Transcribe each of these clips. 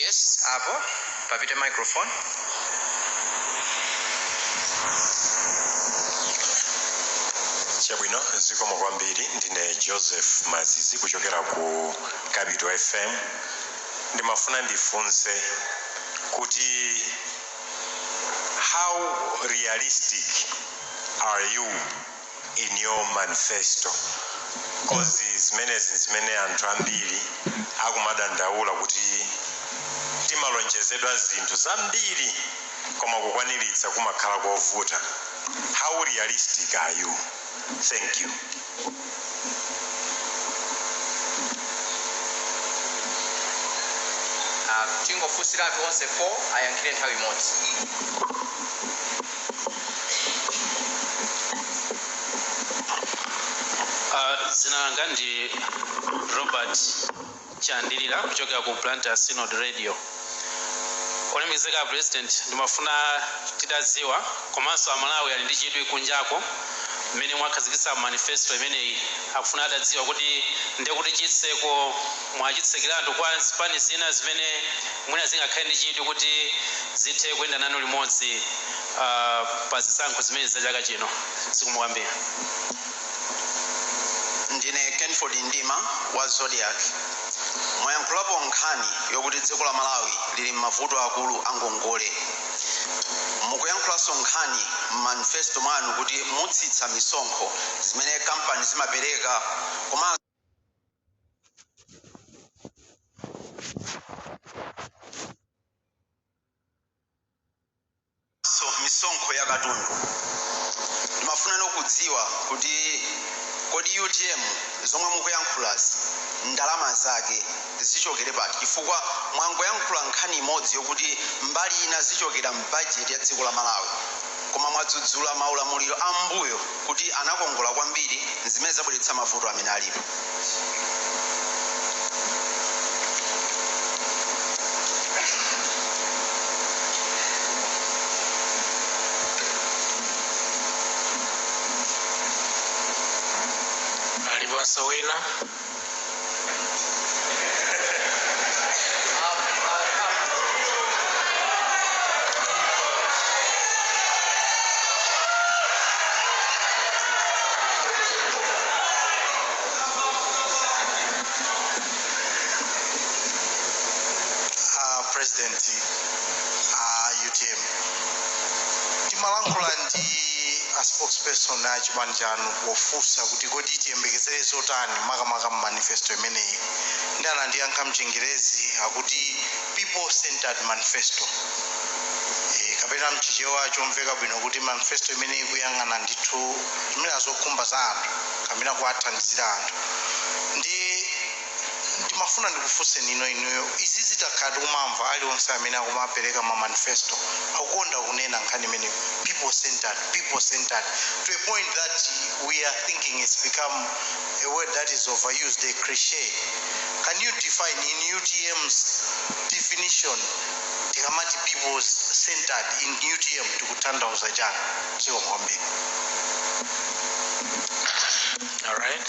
Yes, apo papite microphone. Chabwino, zikomo kwambiri. Ndine Joseph Mazizi kuchokera ku Capital FM. Ndimafuna ndifunse kuti how realistic are you in your manifesto cause zimenezi nzimene anthu ambiri akumadandaula kuti timalonjezedwa zinthu zambiri koma kukwaniritsa kumakhala kovuta how realistic are you thank you Ah, tingofunsiratu onse 4 ayankhire nthawi imodzi Uh, dzina langa ndi robert chandilira kuchokera ku blantyre synod radio olemekezeka president ndimafuna titadziwa komanso amalawi ali ndi chidwi kunjako mmene mwakhazikitsa manifesto imeneyi akufuna atadziwa kuti ndekuti chitseko Mwachitsekeratu kwa zipani zina zimene mwina zingakhale ndi chidwi kuti zithe kuyenda nanu limodzi pa zisankho zimenezi za chaka chino. Zikomo kwambiri. Ndine Kenford Mdima wa Zodiak. Mwayankhulapo nkhani yokuti dziko la Malawi lili m'mavuto aakulu a ngongole. Mukuyankhulanso nkhani m'manifesto mwanu kuti mutsitsa misonkho zimene kampani zimapereka koma so misonkho ya katundu ndimafuna kudziwa kuti kodi utm zomwe mukuyankhulazi ndalama zake zichokera pati chifukwa mwangoyankhula nkhani imodzi yokuti mbali ina zichokera mbajeti ya dziko la malawi Koma mwadzudzula maulamuliro a m'mbuyo kuti anakongola kwambiri, zimene zabweretsa mavuto amene alipo. Aliponso wina? a president a utm timalankhula ndi a spokesperson a chipani chanu Pofunsa kuti kodi tiyembekezere zotani makamaka mu manifesto imeneyi, ndiye anandiyankha m'Chingerezi akuti, People-centered manifesto, eeh, kapena m'Chichewa chomveka bwino kuti manifesto imene ikuyang'ana ndithu, zimene zokhumba za anthu kapena kuwathandizira anthu. Ndiye. ndimafuna ndikufunseni inuyo izizi takhala tikuzimva aliyense amene akumapereka ma manifesto akukonda kunena nkhani imeneyo people centered people centered to a point that we are thinking it's become a word that is overused a cliche can you define in utm's definition tikamati people centered in utm tikutanthauza chani zikomo kwambiri All right.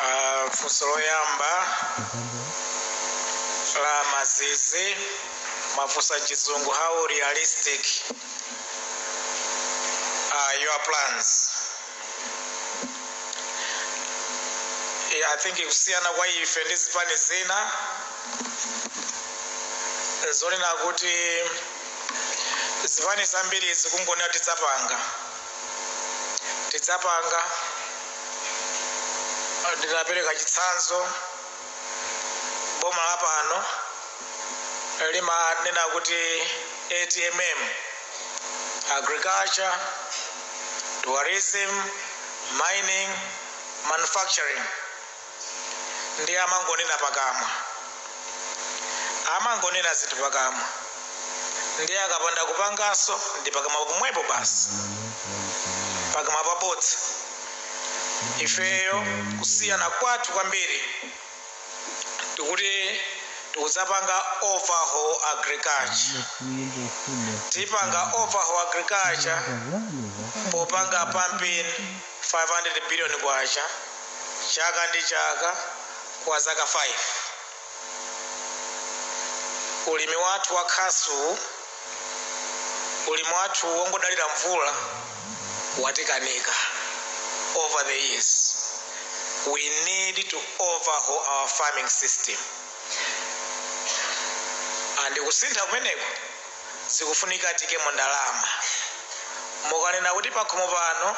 Ah, funso loyamba la mazizi amafunsa chizungu how realistic are your plans Eh, i think kusiyana kwa ife ndi zipani zina nzonena kuti zipani zambiri zikungonena tidzapanga tidzapanga, nditapereka chitsanzo, boma lapano limanena kuti ATMM, Agriculture, Tourism, Mining, Manufacturing. ndiye amangonena pakamwa amangonena zinthu pakamwa ndiye akapanda kupanganso ndi pakamwa pomwepo basi pakamwa pabodza ifeyo kusiyana kwathu kwambiri tikuti tikudzapanga overhaul agriculture tidzapanga overhaul agriculture popanga pumping 500 billion kwacha chaka ndi chaka kwa zaka 5. Ulimi wathu wa khasu, ulimi wathu wongodalira mvula watikanika over the years. We need to overhaul our farming system and kusintha kumeneku. zikufunika tiikemo ndalama. Mukanena kuti pakhomo pano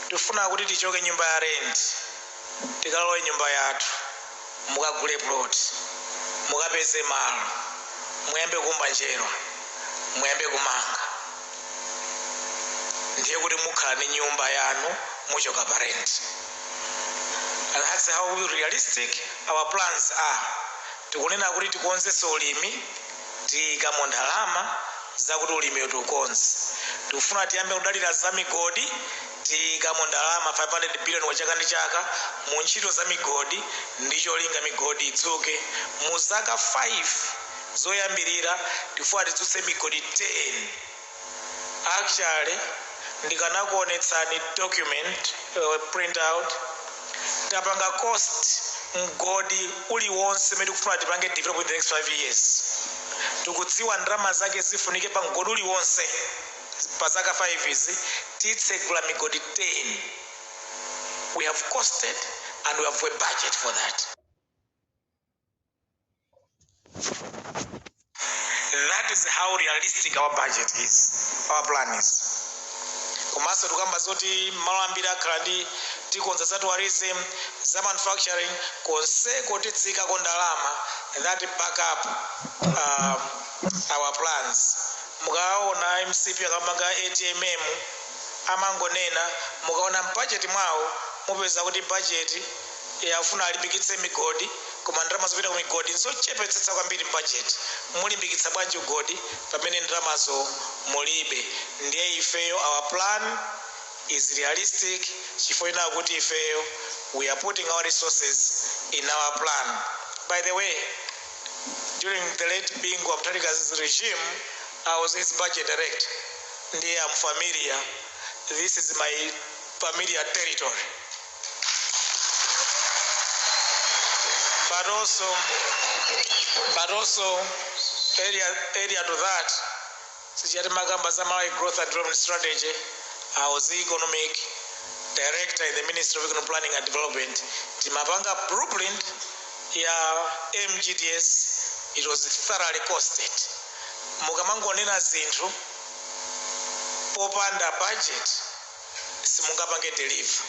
tifuna kuti tichoke nyumba ya rent tikalowe nyumba yathu, mukagule plot, mukapeze malo, muyambe kuumba njerwa, muyambe kumanga ndiye kuti mukhala ndi nyumba yanu muchoka pa rent. And that's how realistic our plans are. Tikunena kuti tikonzetse ulimi tiikamo ndalama zakuti ulimiwo tiukonze. Tikufuna tiyambe kudalira za migodi, tiikamo ndalama 500 billion chaka ndi chaka mu ntchito za migodi ndi cholinga migodi idzuke. Mu zaka 5 zoyambirira tikufuna tidzutse migodi 10. Actually ndikanakuonetsani document printout tapanga cost mgodi uliwonse umene tikufuna tipange develop in the next 5 years tikudziwa ndalama zake zifunike pa mgodi uliwonse pa zaka 5 izi titsegula migodi 10 we have costed and we have a budget for that That is how realistic our budget is, our plan is. komanso tikukamba zoti malo ambiri akhala ndi tikonza za tourism za manufacturing konseko tidzaikako ndalama that back up uh, our plans mukaona mcp akamakamba atmm amangonena mukaona mbajeti mwawo mupeza kuti bajeti Eya afuna alimbikitse migodi koma ndalama zopita kumigodi nzochepetsetsa kwambiri mbajeti. Mulimbikitsa bwanji migodi pamene ndalamazo mulibe? Ndiye ifeyo our plan is realistic chifukwa chonena kuti ifeyo we are putting our resources in our plan. By the way, during the late Bingu wa Mutharika's regime, I was his budget director ndiye I'm familiar, this is my familiar territory. but also but also area area to that sijati makamba za Malawi growth and development strategy I was the economic director in the ministry of economic planning and development timapanga blueprint ya mgds it was thoroughly costed mukamangonena zinthu popanda budget simungapange deliver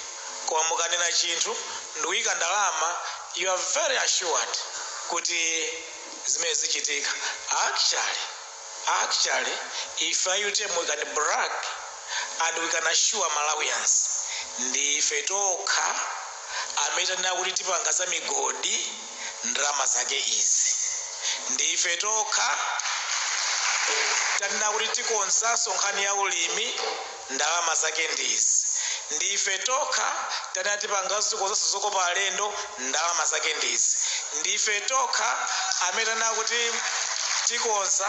koma mukanena chinthu ndikuika ndalama you are very assured kuti zimene zichitika actually actually ife a utm we can brag and we can assure malawians ndiife tokha amene tanena kuti tipanga za migodi ndalama zake izi ndiife tokha tanena kuti tikonzanso nkhani ya ulimi Ndalama zake ndi izi. Ndi ife tokha tanena tipanganso tikonzanso zokopa alendo. Ndalama zake ndi izi. Ndi ife tokha amene tanena kuti tikonza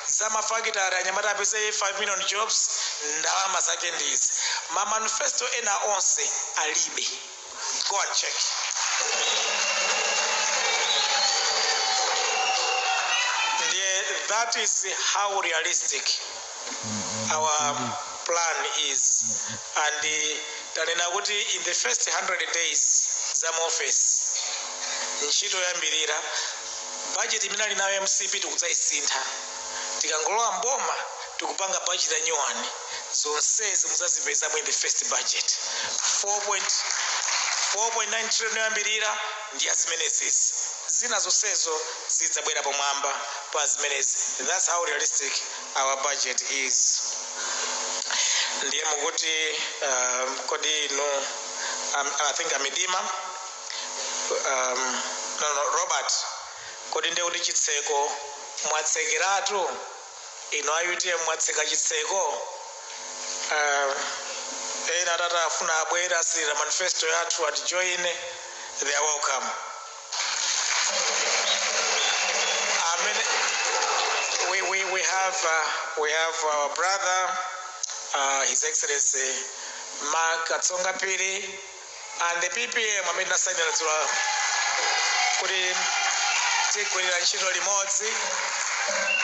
za mafakitale anyamata apeze 5 million jobs. Ndalama zake ndi izi. Ma manifesto ena onse alibe. Go and check. Ndiye, that is how realistic our plan is. And tanena kuti in the first 100 days za mu office ntchito yoyambirira budget imene ali nayo mcp tikudzaisintha tikangolowa mboma tikupanga budget ya new one zonsezi muzazipeza mu the first budget 4.9 trillion yoyambirira ndi ya zimenezizi zina zonsezo zidzabwera pomwamba pa zimenezi that's how realistic our budget is ndiye mukuti um, kodi inu um, i think amidima um, no, no, robert kodi ndiye kuti chitseko mwatsekeratu Inu a utm mwatseka chitseko aah ena atati afuna abwere asirira manifesto yathu ati join they are welcome amene we, we, we have uh, we have our brother uh, his excellency mark katsonga phiri and the PPM amene tinasainira dzulo kuti tigwirira ntchito limodzi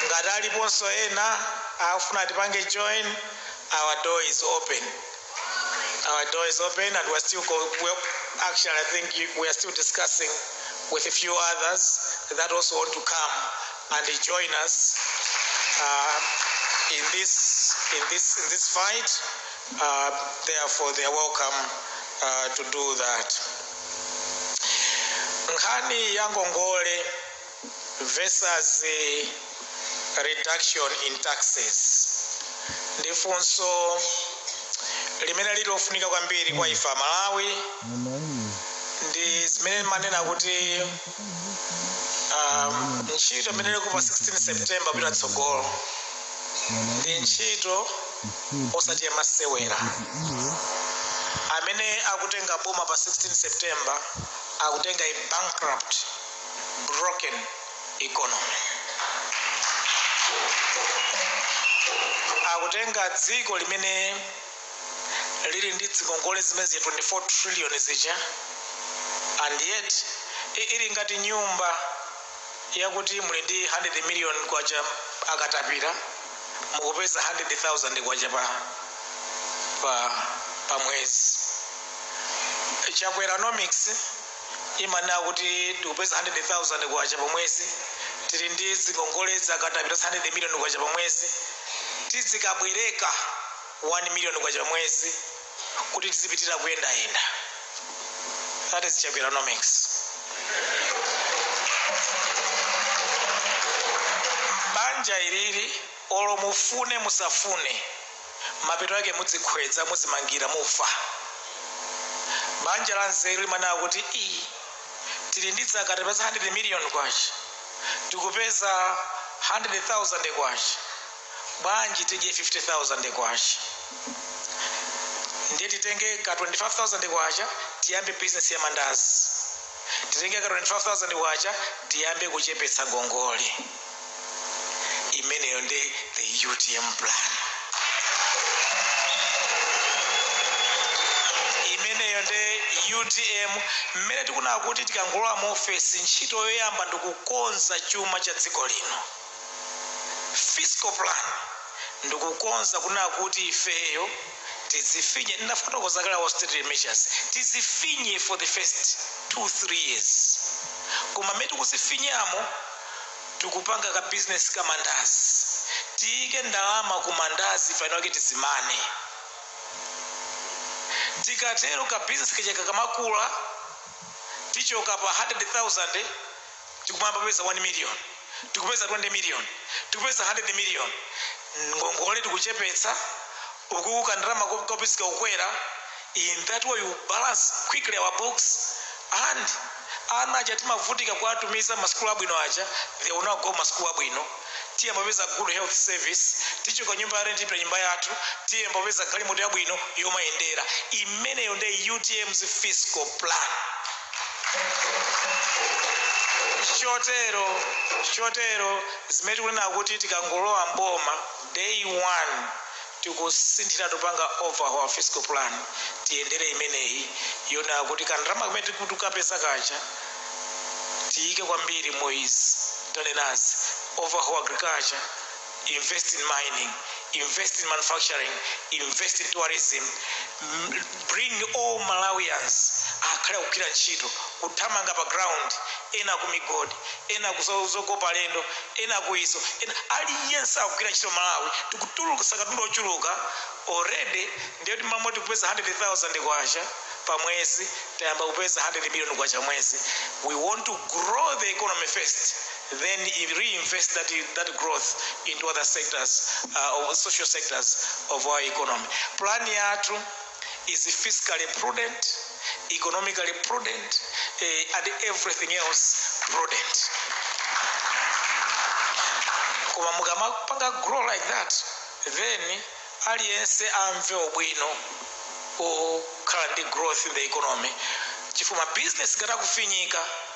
ngati aliponso ena akufuna tipange join our door is open our door is open and we're still go, well, actually i think you, we are still discussing with a few others that also want to come and join us uh, in this in this in this fight uh, therefore they are welcome uh, to do that. Nkhani ya ngongole versus the reduction in taxes ndi funso limene lili lofunika kwambiri kwa ife amalawi ndi zimene timanena kuti um, ntchito imene ilipo pa 16 september kupita tsogolo ndi ntchito osati yamasewera amene akatenga boma pa 16 september akatenga a bankrupt broken economy akatenga dziko limene lili ndi dzingongole zimene zija 24 trillion zija and yet i- ili ngati nyumba yakuti muli ndi 100 million kwacha akatapira mukupeza 100,000 kwacha pa pa pa mwezi chakweronomics imanena kuti tikupeza 100,000 kwacha pa mwezi tili ndi zingongole zakatapira 100 million kwacha pa mwezi tizikabwereka 1 million kwacha pa mwezi kuti tizipitira kuyendayenda that is chakweronomics banja ilili olo mufune musafune mapeto ake mudzikhwedza muzimangira mufa banja la nzeru limanena kuti iyi tili ndi zakatapira 100 million kwacha tikupeza 100,000 kwacha bwanji tidye K50,000 ndiye titenge ka K25,000 tiyambe business ya mandazi, titenge ka K25,000 tiyambe kuchepetsa ngongole. Imeneyo nde the utm plan. Imeneyo nde utm mmene tikunena kuti tikangolowa mu ofesi ntchito yoyamba ndikukonza chuma cha dziko lino. fiscal plan ndikukonza kunena kuti ifeyo tidzifinye ndinafotokoza kale austerity measures tizifinye for the first two three years koma mmene tikuzifinyamo tikupanga ka business ka mandazi tiyike ndalama ku mandazi penapake tizimane tikatero ka business kaja kakamakula tichoka pa 100,000 tikumayamba kupeza 1 million tikupeza 20 million tikupeza 100 million ngongole tikuchepetsa ukuku kandalama kophisika kukukwera in that way you balance quickly our books and ana aja timavutika kuwatumiza m'masukulu abwino aja they will now go m'masukulu abwino Tiyamba kupeza good health service, tichoka nyumba ya rent tipita nyumba yathu, tiyamba kupeza galimoto yabwino yomayendera. Imeneyo nde UTM's fiscal plan. Chotero, chotero zimene tikunena kuti tikangolowa m'boma day one tikusinthira tikupanga overhaul fiscal plan tiyendere imeneyi yonena kuti kandalama kamene tikuti tikukapeza kaja tiyike kwambiri mu izi tanenazi overhaul agriculture invest in mining invest in manufacturing invest in tourism bring all malawians akhale akugwira ntchito kuthamanga pa ground ena ku migodi ena ku zo- zokopa alendo ena ku izi ena aliyense akugwira ntchito malawi tikutulukisa katundu ochuluka already ndiye kuti mmene timapeza 100000 kwacha pa mwezi tayamba kupeza 100 million kwacha mwezi we want to grow the economy first then reinvest that, that growth into other sectors or social sectors of our economy plan yathu is fiscally prudent, economically prudent, eh, and everything else prudent. Koma mukamapanga grow like that, then aliyense amve ubwino okhala ndi growth in the economy chifukwa business ikatakufinyika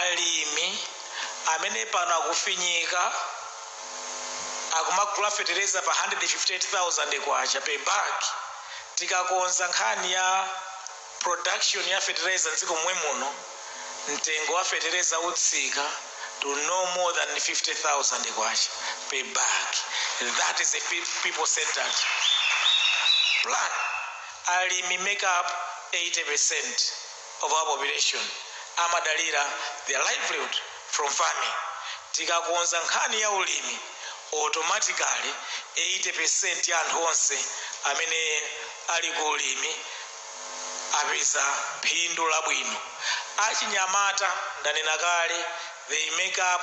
Alimi amene pano akufinyika akumagula fetereza pa K158,000 per bag, tikakonza nkhani ya production ya fetereza m'dziko momwe muno, mtengo wa fetereza utsika to no more than K50,000 per bag. That is a people centered plan. Alimi make up 80%. of our population amadalira their livelihood from farming. Tikakonza nkhani ya ulimi, automatically 80% ya anthu onse amene ali ku ulimi apeza phindu labwino. Achinyamata, ndanena kale, they make up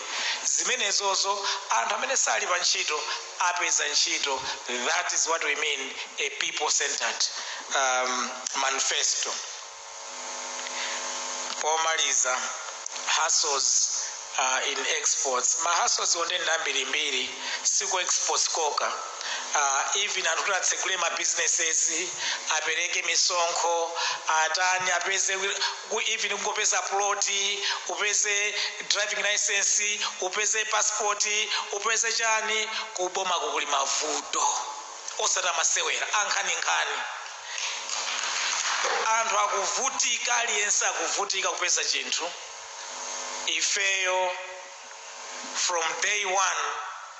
zimenezozo anthu amene sali pa ntchito apeza ntchito that is what we mean a people centered um, manifesto pomaliza hustles uh, in exports ma hustles m'dziko ndi ambirimbiri siku exports koka uh, even anthu kuti atsegule ma businesses apereke misonkho atani apeze ku even kungopeza plot, upeze driving licence, upeze passport, upeze chani, ku bomaku kuli mavuto osati amasewera ankhaninkhani. Anthu akuvutika aliyense akuvutika kupeza chinthu ifeyo from day one.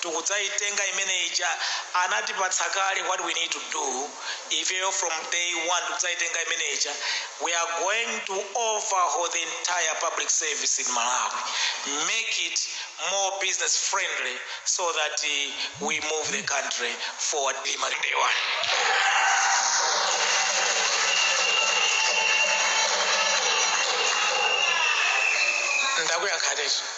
tikudzaitenga imene ija anatipatsa kale what we need to do ifeyo from day one tikudzaitenga imene ija we are going to overhaul the entire public service in malawi make it more business friendly so that uh, we move the country forward Lima, day one ndakuyankhateso